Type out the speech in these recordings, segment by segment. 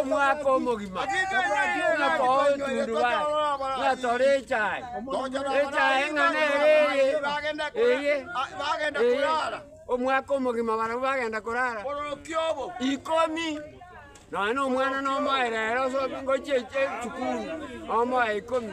omwaka omogima, buna togotundubare, buna tore echae, echae eng'ana ere eye, eye, eye, omwaka omogima barabwo bagenda korara, ikomi, nonya na omwana nomoe rero osoki ngochie eche- esukuru, omoe ikomi.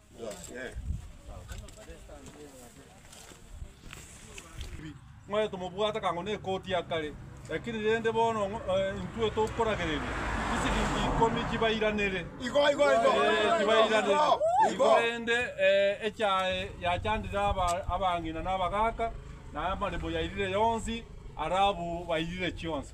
Ng'oe tomobwate kang'o nekoti ya kare, lakini rende bono ng'o- eh, intwe tokoragereria chisiringi ikomi chibairanere. Igo, igo, igo. Eh, chibairanere. Igo, Igo igo. rende eh, echae yachandire aba- abang'ina na abagaaka, na amaremo yairire yonsi, arabu bairire chionsi.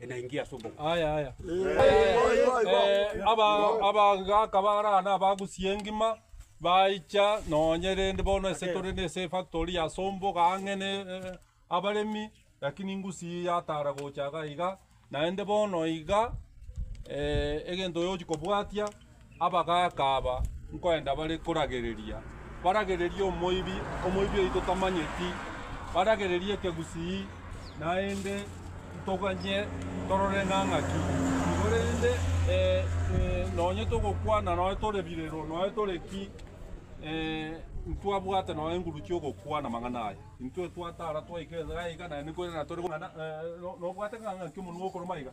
Enaingia ase obogima. Aya, aya. Eh, aba abagaka bara na abagusi engima baicha nonye rende bono ase tore ne ase efactory ya somboga ang'e ne eh, abaremi lakini ngusi yatara gocha iga iga naende bono iga eh, egento oyochi kobwatia Abagaaka aba nkoenda bare koragereria, baragererie omoibi, omoibi oyio totamanyeti, baragererie ekegusii, naende ntoganye torore nang'aki nigo rende nonye togokwana nonye tore birero nonye tore ki, ntwabwate nonye enguru chi'ogokwana amang'ana aya. Intwe twatara twaika iga na iga naende nkoirana tore nobwate ng'a ng'aki omonwa okoruma iga.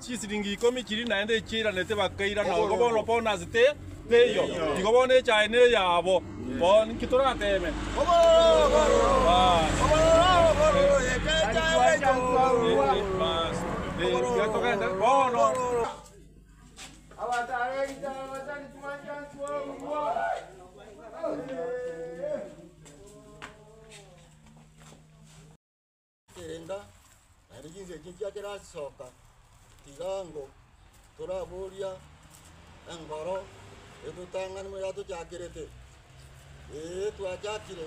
Chisiringi ikomi chiria naende echio airanete bakaira na obo bono bono ase te, teiyo. Igo bono echae neyabo. Bono ninki torateme? Bas. Ekerenga, naende chinsa echi nchiakerasisoka, tiga ango toraboria engoro etotang'anima yatochakerete, ee, twachakire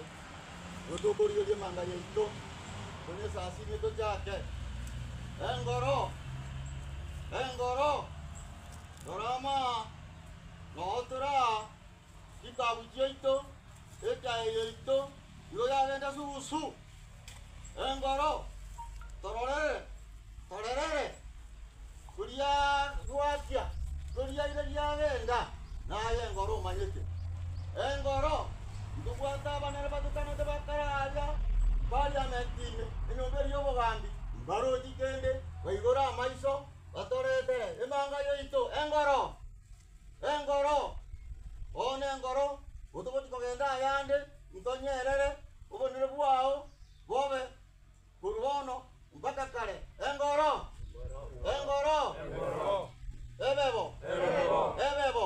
nigo tokorigereria emanga yaito, onye esasima etochake. Engoro, engoro, rora amaa, noo tore aa. chitaabu chiaito, ekeyo yaito nigo yagenda sugusu, engoro tororere torerere, koria gwakia koria ire giagenda, naye engoro omanyete. Engoro ntobwate abanene batukanete bakare aria Parliament ime, enyomba eria y'obogambi, mbarochi kende, baigore amaiso, batoretere emanga yaito, engoro. “Engoro! Oo nengoro, otogoti kogenda ayande, intonyerere, obonene bwao bobe korwa bono mpaka kare. Engoro! Engoro! Ebebo! Ebebo!”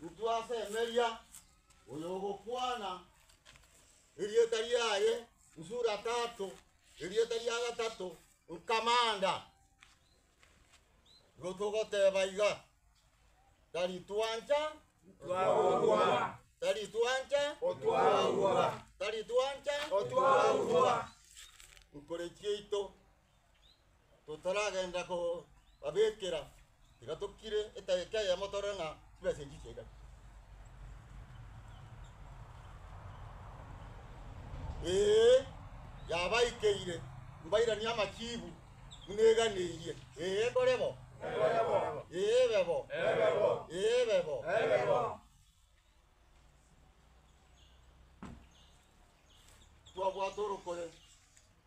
Ntwasemeria oyogokwana erieta riaye Nsuratato, erieta ria gatato Nkamanda. Igo togoteba iga, tari twancha Twaurwa, tari twancha Otwaurwa, tari twancha Otwaurwa. Nkore chiaito Totaragenda kobabekera, tiga tokire edaika eyemo torore ng'a chibesa echi chiaigana. Ee, yabaikeire, mbairanie amachiibu buna eganeirie. Ee, nkore bo. Ee, ebe bo. Ee, ebe bo. Twabwate orokore.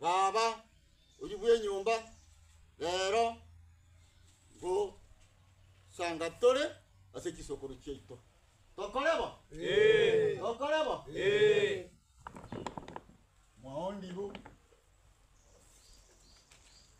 Baba oyio bw'enyomba, rero ngosanga tore ase chisokoro chiaito. Tokore bo? Ee. Tokore bo? Ee. Mwaondibu.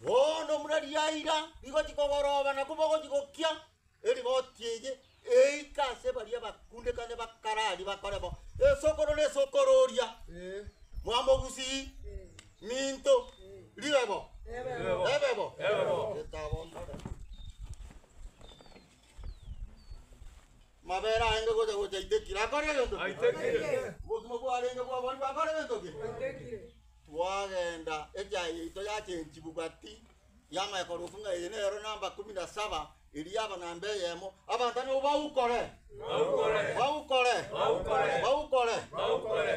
Bono buna riaira rigochi kogoroba nakwo bogochi gokia erigoti eye eike ase baria bakundekane bakararie bakore bo, esokoro na esokoro oria mwamogusii minto ribe bo ebe bo etabo mbare. Mabere aenge gocha gocha aitekire, akore egento ki? Aitekire. Obogima bwarenge bwaborigwe, akore egento ki? Aitekire. Twagenda, echaye yaito yachenchigwa gati yama ekorofu ng'a eye nero namba kumi na saba, eria yaba namba eyemo. Abanto nabo baukore, Baukore. baukore, Baukore. baukore. Baukore.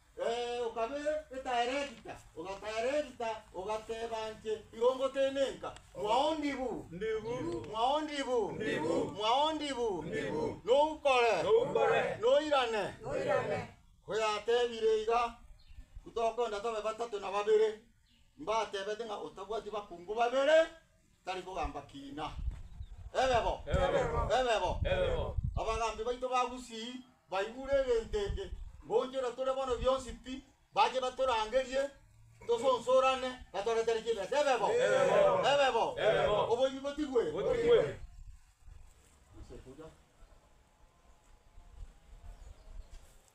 Ee, okabe etaeregita, ogataeregita, ogateba inche igo ngotenenka, Mwao ndibu, mwao ndibu, mwao ndibu, noukore, noirane. Koyatebire iga, ntokonda tobe batato na babere, mbatebete ng'a otabwati bakungu babere, Tari kogamba kiina. Ebebo! Ebebo! Abagambi baito ba Gusii baigure egento eke, ngoonchora tore bono bionsi pi, bache batorangerie, tosonsorane, batoretere chibesa. Ebebo! Ebebo! Oboibi botigwe!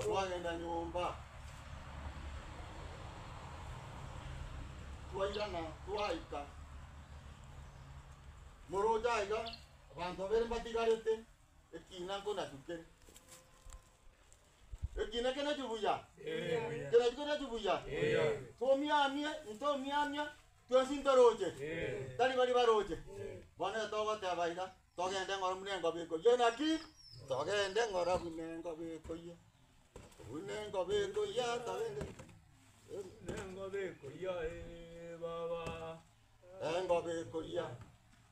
Twagenda nyomba, twairana twaika. Moroche aiga abanto babere mbatigarete, ekina nkonachu kere. Ekina kenachu buya? Kenachu kenachu buya? Tomiamie, intomiamia, Twensi ntoroche? Tari baria baroche? Bono iga togoteba iga, Togende ng'ora buna engobe ekoyia naki? Togende ng'ora buna engobe ekoyia, buna engobe ekoyia, togende buna engobe ekoyia, ee baba, engobe ekoyia.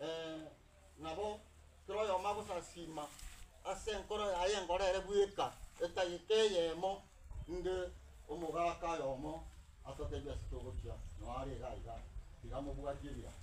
Ee, nabo kera oyomo agosasiima ase enkoro yaye engoro ere bweka, etageka eyemo, inge omogaka oyomo atoteebie ase togochia noa are iga iga, tiga mobwatie ebirango.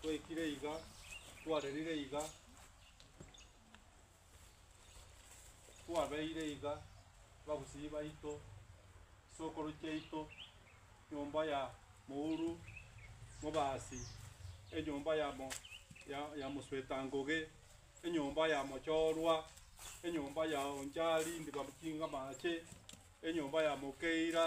Twaikire iga, twarerire iga, twabeire iga, babusii baito, chisokoro chiaito, nyomba ya mouru, mobasi, enyomba ya mo- ya- ya mosweta ngoge, enyomba ya mochorwa, enyomba ya onchari ndibamuchinga amache, enyomba ya mokeira.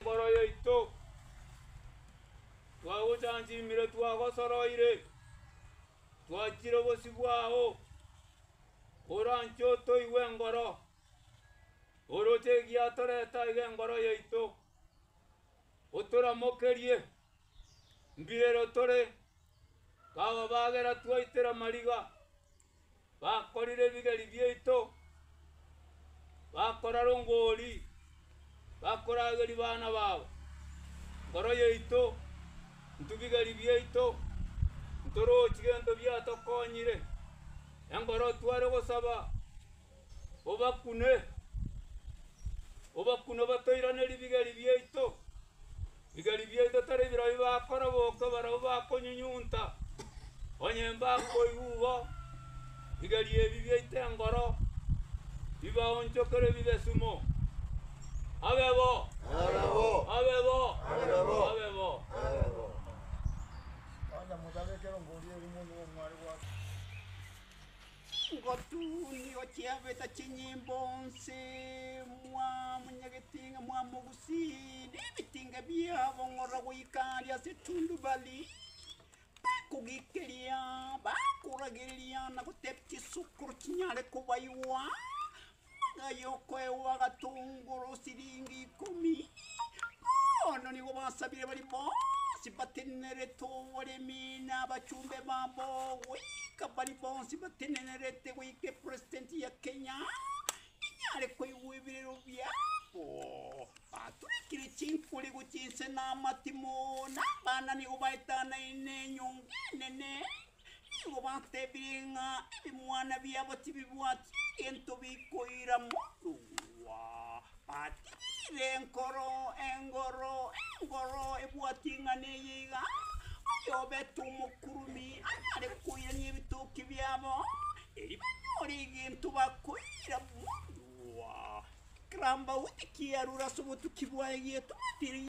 Mboro yaito, twagochanchinmire, twagosoroire, twachire obosio bwao, oranche otoigwe engoro, oroche egiatorete aiga engoro yaito, otoramokerie, mbirero tore, kababagera twaitera mariga. Bakorire ebigeri biaito, bakora rongori, bakorageria bana bao. Nkoro yaito, intwe bigeri biaito, ntorochi gento biatokonyire, enkoro tware gosaba obakune, obakune obatoirane ribigeri biaito. Bigeri biaito tari birobio bakoroboka barabwo bakonyunyunta, onye mbakoigwa igo, bigeri ebi biaito engoro, bibaonchokere bibe sumo. Abe bo! Abe bo! Ngotuunia ochiabeta chinyimbo onsi, mwamonyagetie ng'a mwamogusie, na ebitinga biabo ng'ora goika aria ase etundubari. Bakogeikeria, bakoragereria na gotebia chisokoro chinyare kobaigwa, Ng'a y'okoegwa agatongoro siringi ikomi, bono nigo basabire baria bonsi batenenerete oboremi na abachumbe babo goika baria bonsi batenenerete goika epresident ya Kenya inyare koigwa ebirero biabo. Baturekire chinkori gochia inse na amatimo, na abana nigo baetanaine enyomba enene. Nigo batebire ng'a ebimwana biabo tibibwati egento bikoira morua. Batebiire enkoro, engoro, engoro ebwati ing'ana eye iga, Oyobete omokurumi arare koirania ebitoki biabo, erio banyore egento bakoira morua. Ekerabaote kiarure ase obotuki bwaye gietwatire.